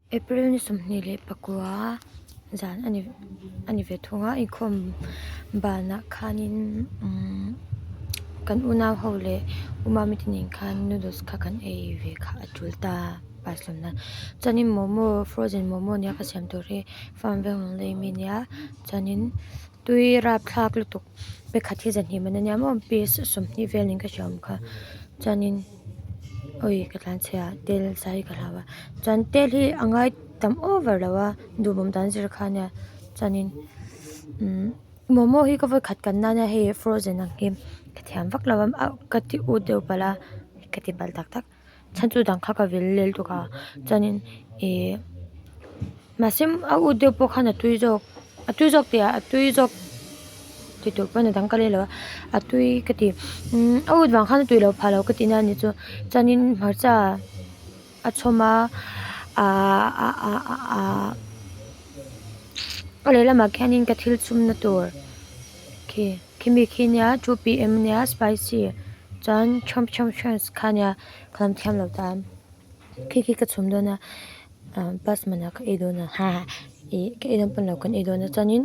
April ni sawmhnih leh pakua zan a ni a ni ve thung a inkhawm banah khanin umm kan unau ho leh uma mitin in khan noodles kha kan ei ve kha a tul ta pasalna chuanin momo frozen momo nia ka siam tur hi farm veng lawng daih a mi nia chuanin tui rapthlak lutuk-- Pe khat hi zahnih man ania maw peace sawmhnih vel niin ka hria awm kha chuanin awi ka tlan chhe a tel saree ka hlau a chuan tel hi a ngai tam over lo a duhmawm dan zir kha ania chuanin umm momo hi ka vawi khat kan nana hei frozen ang hi ka thiam vak lo a ka ti ut deuh palh a ka ti palh tak tak. chhan chu dang kha ka vil lel tawk a chuanin ihh mahse a ut deuh pawh khan a tui zawk a tui zawk tih ah a tui zawk ti tur pawn a dang ka rei lo a a tui ka ti a ut vang khan a tui lo pha lo ka ti nan ni chu chuanin hmarcha a chhawm a aahh a lehlamah khianin ka thil chhumna tur khi. Khimi khi nia two PM nia spicy chuan chhawm chhawm chhawms kha nia ka lam thiam lo ta khi khi ka chhum dawn a ah pasman ah ka ei dawn a ha ih ka ei dawn pawn lo kan ei dawn a chuanin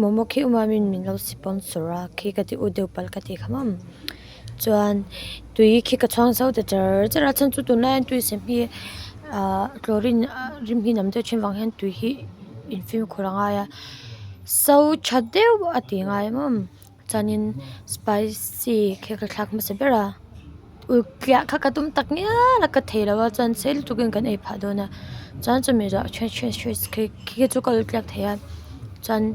momo khi umami min lo sipawm sura khi ka ti u deuh pal ka ti kha mawm. Chuan tui khi ka chhuang zau ta char char a chuan chu tunah hian tui sem hi ah chlorine rim hi nam deuh thin vang hian tui hi infim khur a ngai a so tha deuh a tih ngai em em chuanin spicy khi ka thlak hmasa ber a ulh kiah kha ka tum tak ngial a ka thei lo a chuan sei lutuk in kan ei phah dawn a chuan chumi zah khi khi chu ka ulh kiak thei a chuan--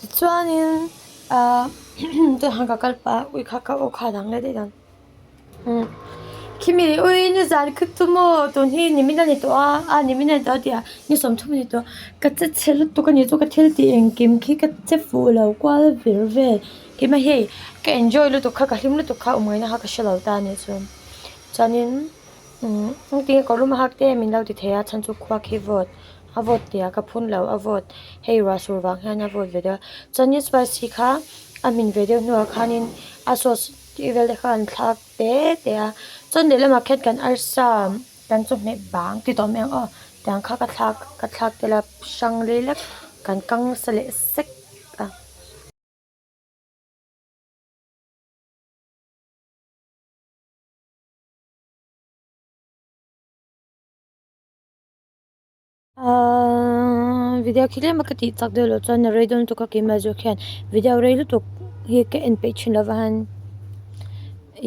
Tichuanin Tun han ka kal pah a, ui kha ka aw kha a dang let daih dan. Khimi leh ui ni zan ka chu maw, tun hi ni min a ni tawh a, ni min a ni tawh a tih a, ni sawm thum a ni tawh a, ka che chhe lutuk a ni chu, ka thil tih engkim khi ka che fuh lo kual vir ve. Kima hei, ka enjoy lutuk kha, ka hlim lutuk kha awm ngaina kha ka hre lo ta a ni chuan. Chuanin engtin nge kawrlum a hak te min lo ti thei a, chhan chu khua khi vawt. a vote tia ka phun loh a vote hei ruah sur vang hian a vote ve deuh a chuanin spicy kha a hmin ve deuh hnuah khanin a sauce tih vel te kha an thlak te te a chuan lehlam ah khian kan arsa kan chawhmeh bang ti tawh mai ang aw tiang kha ka thlak ka thlak tel a hrang lei lek kan kang sa leh sek a. Aaa video khi tlem a ka tih chak deuh loh chuan a rei dawn lutuk a ke mahzua khian video rei lutuk hi ka en peih thin lova han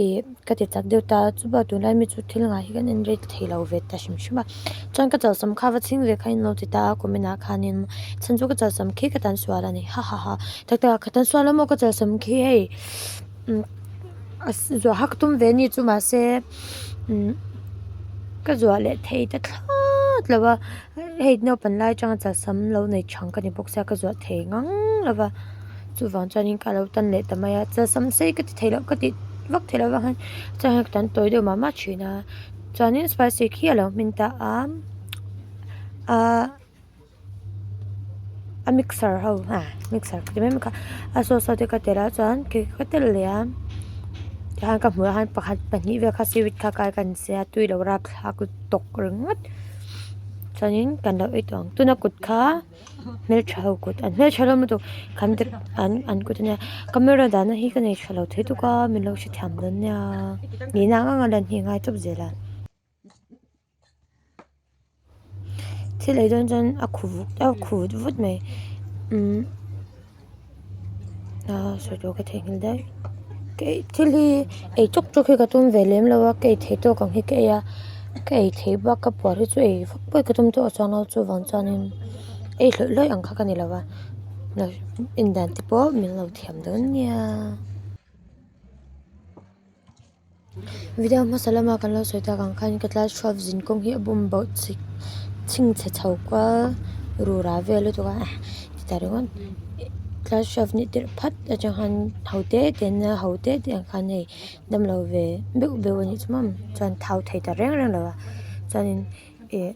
ih ka ti tak deuh ta chuba tunlai mi chu thil nghah hi kan en rei thei lo ve ta hrim hrim a chuan ka chawlhsawm kha va chhing ve kha in lo ti ta a comment ah khanin chhan chu ka chawlhsawm khi ka tan sual a ni hahaha taktak a ka tan sual lawm aw ka chawlhsawm khi hei. a zuah hak tum ve ni chu mahse ka zuah leh thei ta thlâwt lo va hei naupang lai aṭanga chaw sam lo nei ṭhan ka ni bawk se a ka zuah thei ngang lo va chuvang chuanin ka lo tan leh ta mai a chaw sam sei ka ti thei loh ka ti vak thei loh vangin chang hian ka tan tawi deuh mah mah ṭhin a chuanin spicy khi a lo hmin ta a a. a mixer ho a mixer te mai mai kha a sauce ho te ka telh a chuan cake ka telh leh a tichuan ka hmuh ang pakhat pahnih vel kha seaweed kha kai kahin se a tui lo rap thlak tawk ringawt chuanin kan lo ei tawh ang tuna kut kha hmeltha ho kut an hmeltha hlawm lutuk kan an an kut ania camera dahna hi ka nei tha lo thei tuk a min lo hrethiam dawn nia nihna anga lan hni a ngai tawp zel a. Thil ei dawn chuan a khu vuk a khu vut mai umm aa sawi tawh ka thei nghal daih kei thil hi ei chawk chawk hi ka tum ve lem lo a ka ei thei tawk ang hi ka ei a ka ei thei bak a puar hi chu ei vak pawi ka tum tawh a chuang a chuvang chuanin ei hlawih hlawih ang kha ka ni lo a indan te pawh min lo thiam dawn nia. Video hmasa lam a kan lo sawi tak ang khan ka tlai chhuak zin kawng hi a bum boh chik chhing chhe chho kual ru ra ve lutuk a ti ta reng aw tlai hriat nih tirh phat a chang khan ho te te an nia ho te te ang khan hei dam lo ve beuh beuh a nih chu mam chuan thau thei ta reng reng lo va chuanin ih--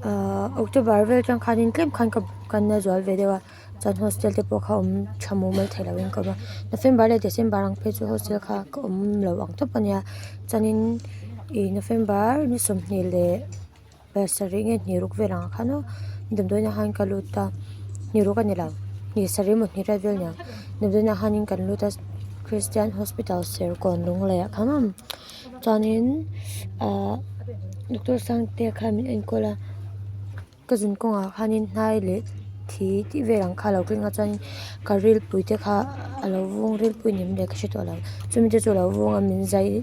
Ahh October vel atang khanin tlem khan ka kan la zual ve deuh a chuan hostel te pawh kha awm tha muh mai theih loh in ka awm a November leh December ang phei chu hostel kha ka awm lo ang tawp a nia chuanin ih November ni sawmhnih leh pasarih nge hniruk vel ang khan u ni damdawiin a han ka lut a hniruk a ni lo ni sarih maw hnihriat vel nia damdawiin a han in kan lut a Christian hospital Serkawn Lunglei ah khamam. Chuanin ah Doctor Sangtea kha min enkawl a, ka zin kawngah khanin hnai leh thi tih vel ang kha a lo keng a chuanin ka rilpui te kha a lo vung rilpui ni maw leh ka hre thawh lo chumi te chu a lo vung a min zai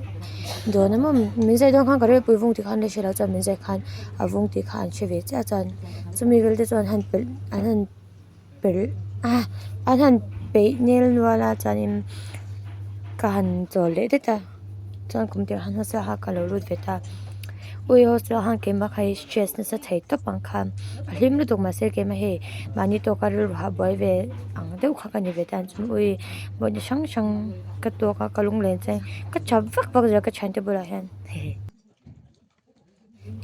dawn em em min zai dawn khan ka rilpui vung tih kha an la hre lo chuan min zai khan a vung tih kha an hre ve chiah a chuan chumi vel te chuan han pelh an han-- a han peih nel nual a chuanin ka han chawl leh tlat a chuan kum tel han hmasa kha ka lo lut ve ta ui ho chu a han keima kha hi stress nasa thei tawp ang kha a hlim lutuk mah se keima hei mahni tawk a rilru habuai ve ang deuh kha ka ni ve ta chuan ui mawhna hrang hrang ka tawk a ka lunglen chuan ka chham vak vak zia ka thiante bulah hian he he.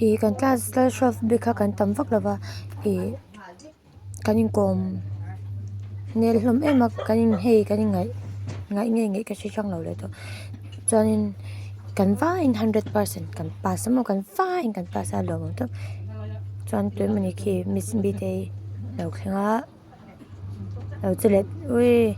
Ih kan class kal hruaf bik kha kan tam vak lova ih kan inkawm nel hlawm em a kan in hei kan in ngaih ngaih ngei ngei ka hre hrang lo leh tawh chuanin kan vaiin hundred percent kan pass maw kan faiin kan pass a lawmawm tawh chuan tun mani khi miss mite hi lo thleng a lo che let ui.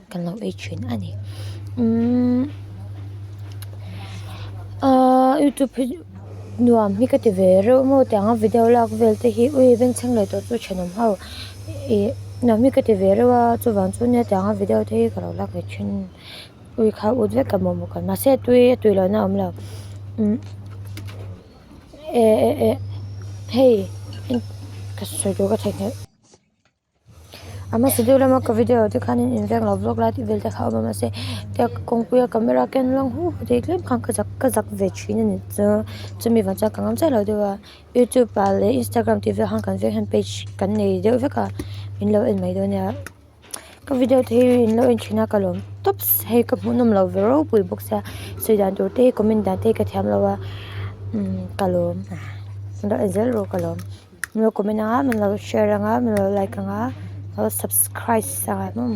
Kan lo ei thin a ni. Umm Aaa youtube hi nuam hi ka ti ve reuh maw tiang a video lak vel te hi ui veng chheng leh tawh chu thenawm ho ih nuam hi ka ti ve reuh a chuvang chu nia tiang a video te hi ka lo lak ve thin ui kha ut vek ka mawhmawh kal mahse tui a tui lohna awm lo umm eh eh eh hei ka sawi tur ka thawih nghal. A hmasa deuh lama ka video te khan in invek lo vlog lai tih vel te kha awm a mahse hetiang ka kawngpui a camera a ken rang hu hu thei tlem khan ka zak ka zak ve thin a ni chuan chumi vang chuan ka ngam chiah lo deuh a youtube ah leh instagram tih vel ah khan kan veng hian page kan nei deuh vek a min lo en mai dawn nia ka video te hi in lo en thin a ka lawm tawp hei ka hmu nawm lo ve ropui bawk sia sawi dan tur te hi comment dan te hi ka thiam lo a ka lawm a ka lo en zel rawh ka lawm. Min lo comment anga min lo share anga min lo like anga lo subscribe sangha hlawm.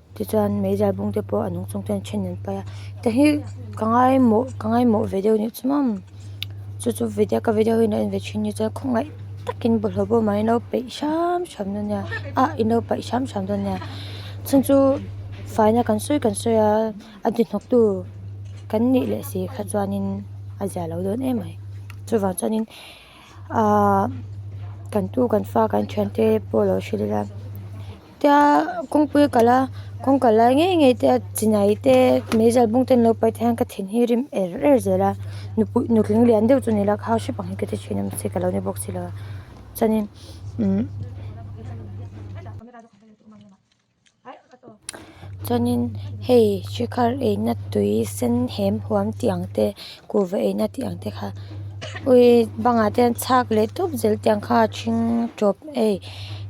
Tichuan meizai bung te pawh a nung chungte an then an paih a heta hi ka ngai mawh ka ngai mawh ve deuh anih chu mam chu chu vidia ka vidia ho in a en ve thin ni chuan khawngaih takin bawlhhlawh bawm ah i lo peih hram hram dawn nia a i lo paih hram hram dawn nia chhung chu faina kan sawi kan sawi a a di hnawk tu kan nih leh si kha chuan in a ziah loh dawn em mai chuvang chuan in-- Ahh kan tu kan fa kan thian te pawh lo hre leh a tia kawngpui a kalh a kawng kalh lai ngei ngei te a chi nai te mei zal bung te an lo pai te hian ka thin hi rim er er zel a nupui nutling lian deuh chu a ni lo a khau hrep ang hi ka ti thin a mahse ka lo ni bawk si lo a chuanin umm. Chuanin hei Shikhar eina tui sen hem huam tih ang te kuhva eina tih ang te kha ui bangah te hian chhak leh tawp zel tih ang kha a chhing tawp ei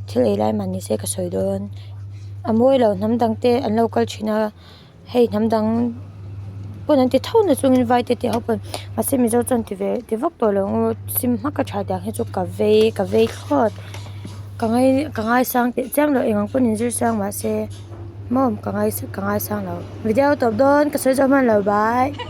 thil ei lai mahni se ka sawi dawn a mawi loh hnam dang te an lo kal thin a. hei hnam dang pawn an ti tho nasa chungin vai te tih ho pawn mahse mizo chuan ti ve ti vak tawh lo ngu sim hmak a tha dang hi chu ka vei ka vei thlawt ka ngai ka ngaisang teh chiang lo eng ang pawn in zir sang mahse mawm ka ngai ka ngaisang lo video tawp dawn ka sawi zo hman lo bai.